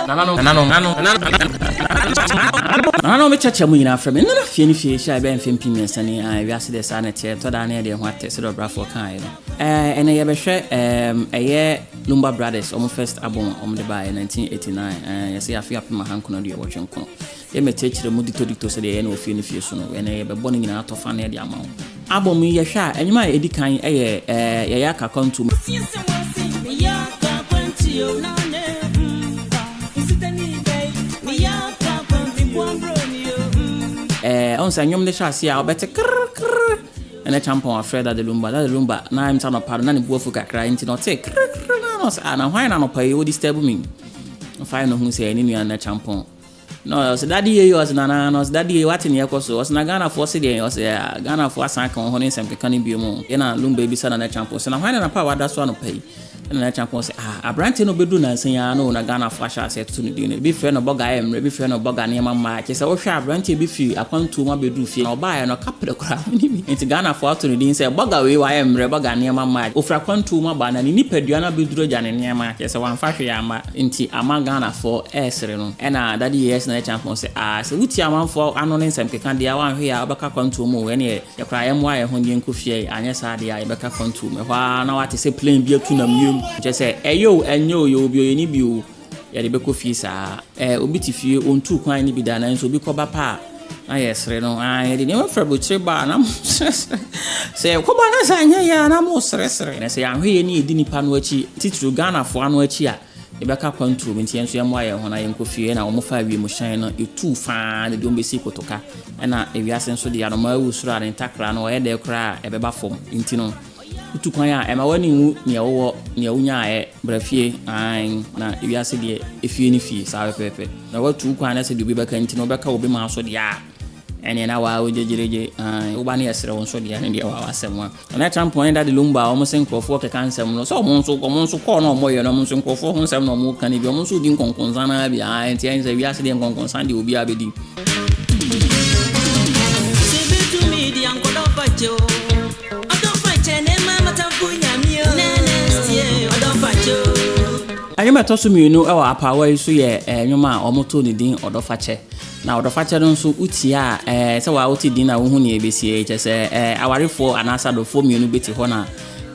nananom nananom nananom me kyɛkyɛ mu nyinaa frɛ me nana fie no fie hyɛ ɛbɛyɛ mfe mpi mmiɛnsa ni a wiase deɛ saa na ɛteɛ tɔ daa ne ɛdeɛ ho atɛ sɛ dɛ ɔbrafoɔ kaeɛ no ɛnɛ yɛbɛhwɛ ɛyɛ lumba brothers ɔmo first album a ɔmo de baeɛ 1989 yɛsɛ yɛafe apem ahankono aduɔwɔtwe nkono Yɛ mɛ kyerɛkyerɛ mu ditodito sɛdeɛ yɛyɛ no wɔ fie no fie so no, ɛnɛ yɛbɛbɔ ne nyinaa tɔ fane de ama wo. Album yi yɛhwɛ a, nnwom a ɛdi kan yɛ ɛɛ Yɛyɛ Aka Akwantuo mu. Ɛɛ, ɔhu sɛ nnwom de hyɛ aseɛ a, wobɛte krr krr ɛna Kyampɔn afrɛ Dade Lumba. Dade Lumba, na ɛm sɛ anɔpa no, na ne bo afu kakra, nti na ɔtee krr krr no a, na ɔse ah, na hwan na anɔpa yi wo disturb me? Ɔfaeɛ na ɔhuu sɛ ɛyɛ ne nua Nana Kyampɔn. Na ɔse dade yei ɔse nana na ɔse dade yei wate neɛ ɛkɔso ɔse na Ghanafoɔ se deɛn ɔse yaa Ghanafoɔ asan aka wɔhɔ ne nsɛm keka no bio mu yɛ na Lumba bisa Nana Kyampong se na hwan ne napa a wada so anɔpa yi na Nana Kyampong se ah abranteɛ no bɛduru nansa yi aa no o na Ghanafoɔ ahyɛ aseɛ atoto no din no ebi frɛ no bɔga ayɛ mmerɛ ebi frɛ no bɔga nneɛma mmaa kyesɛ wohwɛ a abranteɛ bi firi akwantuo mu abɛduru fie na ɔbaeɛ no kaprɛ koraa mene bi nti Ghanafoɔ ato no din sɛ bɔga wei wayɛ mmerɛ bɔga nneɛma mmaa ɔfiri akwantuo mu aba na ne nipadua no abɛduru agya ne nneɛma kyesɛ wamfa hwee amma Nti ama Ghanafoɔ ɛresere no ɛna Daddy Yeyes na ɛrekyɛn akɔn sɛ aah sɛ wotie amanfoɔ ano ne nsɛm keka deɛ a wanhwe a wobɛka kwantuo mu oo ɛneɛ yɛkoraa yɛmmoa yɛn ho nyenkɔ fie anyɛ saa deɛ a yɛbɛka kwantuo mu ɛhɔ ara na wate sɛ plane bi atu nam wiem kyerɛ sɛ ɛyɛ oo ɛnyɛ oo yɛwɔ bi oo yɛnni bi oo yɛde bɛkɔ fie saa ɛɛ obi te fie ɔntuu kwan ne bi da nanso obi kɔba pɛ a Na yɛresere no, aa yɛde nneɛma firi aburokyire ba a na moresrɛsrɛ. Sɛ yɛkɔba na sɛ anyɛ yɛ a na moresrɛsrɛ. Na sɛ yɛanhwɛ yɛ ne yɛdi nnipa no akyi, titiriw Ghanafoɔ ano akyi a, yɛbɛka kwantuo mu. Nti yɛn nso yɛmmoa yɛn ho na yɛnkɔ fie. Ɛnna wɔfaa wiemhyɛn no, ɛtuu fa ara de wɔn bɛsii Kotoka. Ɛnna ewiase nso deɛ anomaa wu soro a ne ntakra no ɔyɛ dɛ koraa a ɛbɛba fam. Nti no, Wotu kwan a, ɛma w'ani nwu nea wowɔ, nea wonyaeɛ, bra fie, aane, na wiase deɛ, efie ne fie, saa pɛpɛɛpɛ. Na woatu wo kwan na sɛ deɛ obi bɛka nti na wobɛka obi maa so deɛ a, ɛneɛ na waa wogyegyeregye, aane, wo ba no yɛ serew nso deɛ a, ɛne deɛ waa w'asɛm a. Na na Trump ne Daddy Lumba a wɔn se nkorɔfoɔ keka nsɛm no, sɛ wɔn nso, wɔn nso kɔɔ na wɔyɛ no, wɔn nso nkorɔfoɔ ho nsɛm na wɔka no bi, wɔn nso redi nkɔnkɔnsa no ara bi, aane, nti ɛne sɛ wiase deɛ nkɔnkɔnsa deɛ obiara bɛdi. Nnwom a ɛtɔ so mmienu wɔ apaawa yi so yɛ nnwom a wɔtoo ne din Ɔdɔfakyɛ. Na Ɔdɔfakyɛ no nso wotia a sɛ waa wote din a wohu nea ɛbɛsi kyɛ sɛ awarefoɔ anaasɛ adɔfoɔ mmienu bɛte hɔ na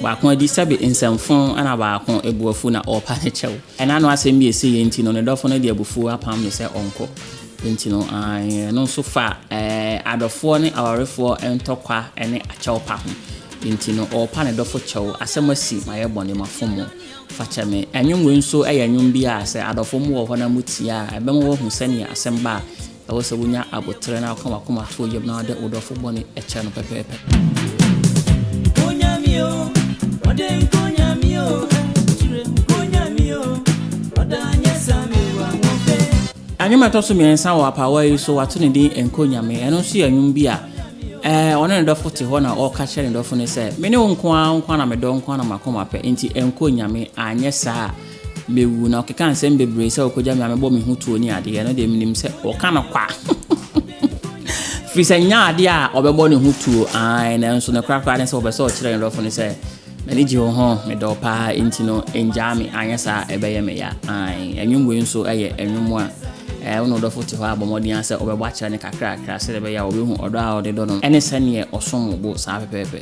baako adi sɛbe nsɛmfo na baako abuafu na ɔrepa ne kyɛw. Ɛna ano asɛm bi a ɛsɛ yɛ nti no ne dɔfo no de abufuo apam no sɛ ɔnkɔ. Enti no, ɛno nso fa adɔfoɔ ne awarefoɔ ntɔkwa ne akyɛw pa ho. Enti no, ɔrepa ne dɔfo kyɛw. Asɛm asi, mayɛ bɔne, mafom wo, fa kyɛ me. Nnwom wei nso yɛ nnwom bi a sɛ adɔfo mu wɔ hɔ na motie a, ɛbɛma wɔahu sɛnea asɛm ba a, ɛwɔ sɛ wonya aboterɛ na woka w'akoma to yam na wode wo dɔfo bɔne kyɛ no pɛpɛɛpɛ. Nnwom a ɛtɔ so mmiɛnsa wɔ apaawa yi so wato ne din Nko Nyame. Ɛno nso yɛ nnwom bi a eh, ɔne ne dɔfo te hɔ na ɔka kyerɛ ne dɔfo no sɛ, me ne wo nko ara nko ara na medɔ nko ara na makoma pɛ, nti ɛnkɔ Nyame, anyɛ saa a Mewu, na ɔkeka nsɛm bebree sɛ ɔkɔgya me a mebɔ me ho tuo ne adeɛ, ɛno deɛ menim sɛ ɔka no kwa. Firi sɛ nyɛ adeɛ a ɔbɛbɔ ne ho tuo, ae, nanso ne korakora ne sɛ ɔpɛ sɛ ɔkyerɛ ne dɔfo no sɛ, m'ani gye wo ho, medɔ wo paa, enti no ngyaa me, anyɛ saa a ɛbɛyɛ me ya. Ae, nnwom wei nso yɛ nnwom a ɛɛ, wo ne wo dɔfo te hɔ a bɔ mmɔden ara sɛ wobɛbɔ akyerɛ no kakrakra sɛdeɛ ɛbɛyɛ a ɔbɛhu ɔdɔ a ɔde dɔ no ne sɛdeɛ ɔsom wo bo saa pɛpɛɛpɛ.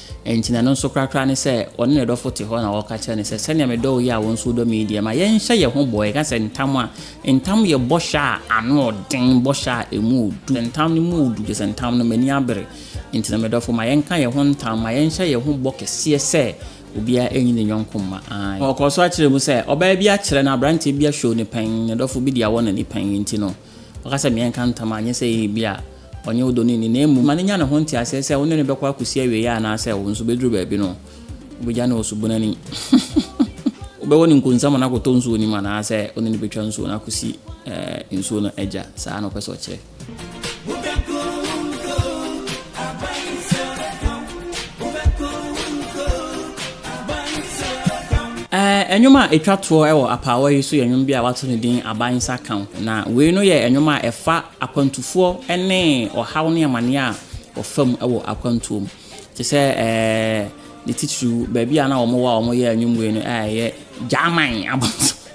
Enti na ɛno nso korakora ne sɛ ɔne ne dɔfo te hɔ na ɔreka kyerɛ no sɛ, Sɛnea medɔ wo yi a wo nso wodɔ me yi deɛ, ma yɛnhyɛ yɛn ho bɔ. Yɛka sɛ ntam a, ntam yɛ bɔhyɛ a ano yɛ den, bɔhyɛ a emu yɛ duru. Sɛ ntam no mu yɛ duru, kyerɛ sɛ ntam no, m'ani abere. Enti na me dɔfo, ma yɛnka yɛn ho ntam, ma yɛnhyɛ yɛn ho bɔ kɛseɛ sɛ obiara renyi ne yɔnko mma. Aane. Ɔkɔɔ so kyerɛɛ mu sɛ, Ɔbaa bi akyerɛ na aberanteɛ bi ahwiɔw ne pɛn, ne dɔfo bi de awɔ n'ani pɛn. Enti no. Ɔka sɛ, Meɛnka ntam a, nyɛ sɛ ɛyɛ bi a ɔnyɛ wo dɔni ni, na mmom ma no nya ne ho nteaseɛ sɛ wo ne no bɛkɔ akɔsi awieɛ anaa sɛ wo nso bɛduru baabi no wobɛgya no wɔ subunu ani. Wobɛwɔ no nkonsa ma no akɔtɔ nsuo no mu anaa sɛ wo ne no bɛtwa nsuo no akɔsi nsuo no agya. Saa na ɔpɛ sɛ ɔkyerɛ. Nnwom a ɛtwa toɔ wɔ apaawa yi so yɛ nnwom bi a wɔato no din Abansa Ka Ho, na wei no yɛ nnwom a ɛfa akwantufoɔ ne ɔhaw ne amaneɛ a wɔfa mu wɔ akwantuo mu. Te sɛ ne titiriw baabi a na wɔwɔ a wɔyɛ nnwom wei no ɛyɛ Gyaman abɔnten.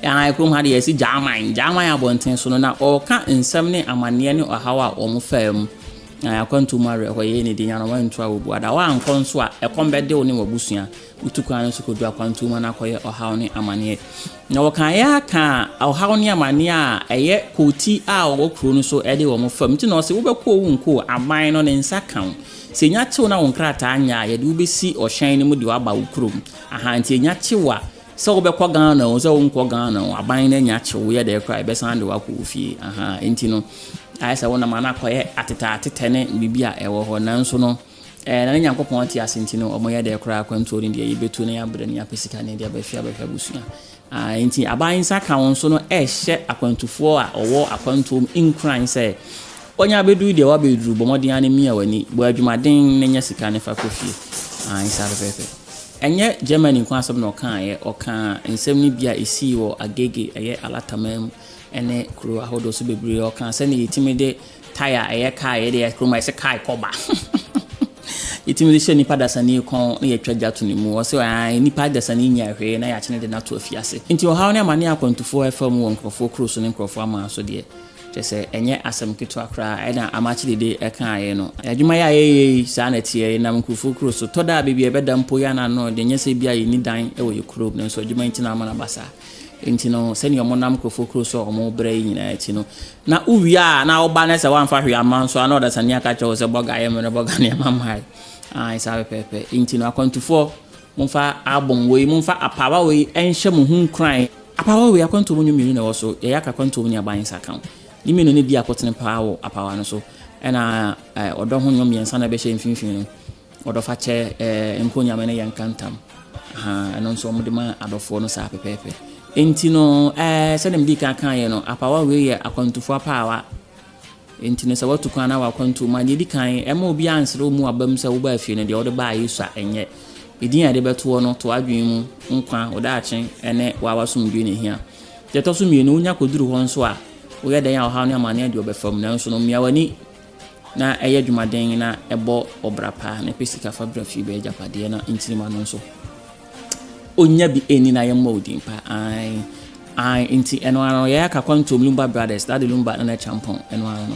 Ae, kurom ha deɛ yɛse Gyaman. Gyaman abɔnten so no, na ɔreka nsɛm ne amanneɛ ne ɔhaw a wɔfaa mu. Na akwantuo mu awerɛhoɔ yɛ ne de nya no, wantu a wɔbu ada. Woankɔ nso a, ɛkɔm bɛde wo ne w'abusua. Wotu kwan no so kɔdu akwantuo mu na akɔyɛ ɔhaw ne amanneɛ. Na wɔkaeɛ aka ɔhaw ne amanneɛ a ɛyɛ kɔɔti a wɔwɔ kuro no so de wɔn fam. Nti na ɔse wobɛkɔ o wonkɔ o, aban no ne nsa ka wo. Sɛ ɛnya kye wo na wo nkrataa nyɛ a, yɛde wo bɛsi ɔhyɛn no mu de wo aba wo kurom. Aha, nti ɛnya kye wo a, Sɛ wobɛkɔ Ghana o, sɛ wonkɔ Ghana o, aban no anya akye wo, yɛ dɛn koraa a, yɛbɛsan de wo akɔ wo fie. Ahaa, enti no, ayɛ sɛ wonam a na akɔyɛ atetɛatetɛ ne biribi a ɛwɔ hɔ. Nanso no, ɛɛ, na ne Nyankopɔn te ase nti no, wɔyɛ dɛn koraa a, akwantuo no deɛ, yɛbɛtu na yɛabrɛ na yɛapɛ sika na yɛde abɛhwɛ abɛhwɛ abusua. Ahaa, enti aban nsa ka wo nso no, ɛrehyɛ akwantufoɔ a wɔwɔ akwantuo mu nkuran sɛ Wanya abɛduru deɛ wabɛduru, bɔ mmɔden ara na mia w'ani, bɔ adwumaden na nya sika no fa kɔ fie. Aane saa pɛpɛɛpɛ. Ɛnyɛ Germany nko asɛm na ɔkaeɛ, ɔkaa nsɛm no bi a ɛsii wɔ Agege, ɛyɛ Alata man mu, ne kuro ahodoɔ so bebree. Ɔkaa sɛdeɛ yɛtumi de tae a ɛyɛ kaa yɛde yɛ kurom a ɛsɛ kaa kɔ ba. yɛtumi de hyɛ nipa dasani kɔn na yɛtwa gya to ne mu. Ɔse aane, nipa dasani nyɛ hwee na yɛakyene de no ato afiase. Nti ɔhaw ne amane a akwantufoɔ ɛfa mu wɔ nkurɔfoɔ kuro so ne nkurɔfoɔ aman so deɛ, Kyerɛ sɛ, ɛnyɛ asɛm ketewa koraa na Amakye Dede kaeɛ no. Adwuma yi a yɛyɛ yi, saa na ɛteɛ. Yɛnam nkurofoɔ kuro so. Tɔ da a, baabi a yɛbɛda mpo, yɛn ara no, deɛ nyɛ sɛ ebia yɛnni dan wɔ yɛn kurom, nanso adwuma yi nti na ama no aba saa. Enti no, sɛdeɛ wɔnam nkurofoɔ kuro so a wɔbrɛ yi nyinaa akyi no, na wowie a, na woba na sɛ woamfa hwee amma nso a, na ɔdasani aka akyerɛ wo sɛ, Bɔga, yɛ mmerɛ, Bɔga nneɛma mmaeɛ. Aane, saa pɛpɛɛpɛ. Enti no, akwantufoɔ. Momfa album wei, momfa apaawa wei nhyɛ mo ho nkuran. Apaawa wei, akwantuo mu nnwom mmienu na ɛwɔ so, Yɛn Yaka Akwantuo mu ne Aban Nsa Ka Wo. Ne mmienu no biako tene paa wɔ apaawa no so, ɛna ɔdɔ ho nnwom mmiɛnsa na ɛbɛhyɛ mfimfini no, Ɔdɔ Fa Kyɛ, Nko Nyame ne Yɛnka Ntam. Aha, ɛno nso wɔde ma adɔfoɔ no saa pɛpɛɛpɛ. Enti no, sɛdeɛ medii kan kaeɛ no, apaawa wei yɛ akwantufoɔ apaawa. Enti no, sɛ woatu kwan anaa w'akwantuo mu a, deɛ ɛdi kan, mma obiara nsrɛ wo mu aba mu sɛ wobaa fie no, deɛ wode baa Yesu a, ɛnyɛ. Edin a yɛde bɛto wo no, to w'adwene mu, nkwa, wo daakye, ne wo ara w'asomdwoeɛ na ɛhia. Deɛ ɛtɔ so mmienu, wonya kɔduru hɔ nso a, woyɛ dɛn a ɔhaw ne amanneɛ deɛ ɔbɛfa mu, nanso no, mia w'ani na yɛ adwumaden na bɔ ɔbra pa, na pɛ sika fa bra fie bɛyɛ agyapadeɛ na nkyiri ma no nso. Onya bi ɛni na yɛ mmɔ odin pa ae ae nti ɛno ano yɛ aka kwantom lumba brothers dade lumba na na champon ɛno ano.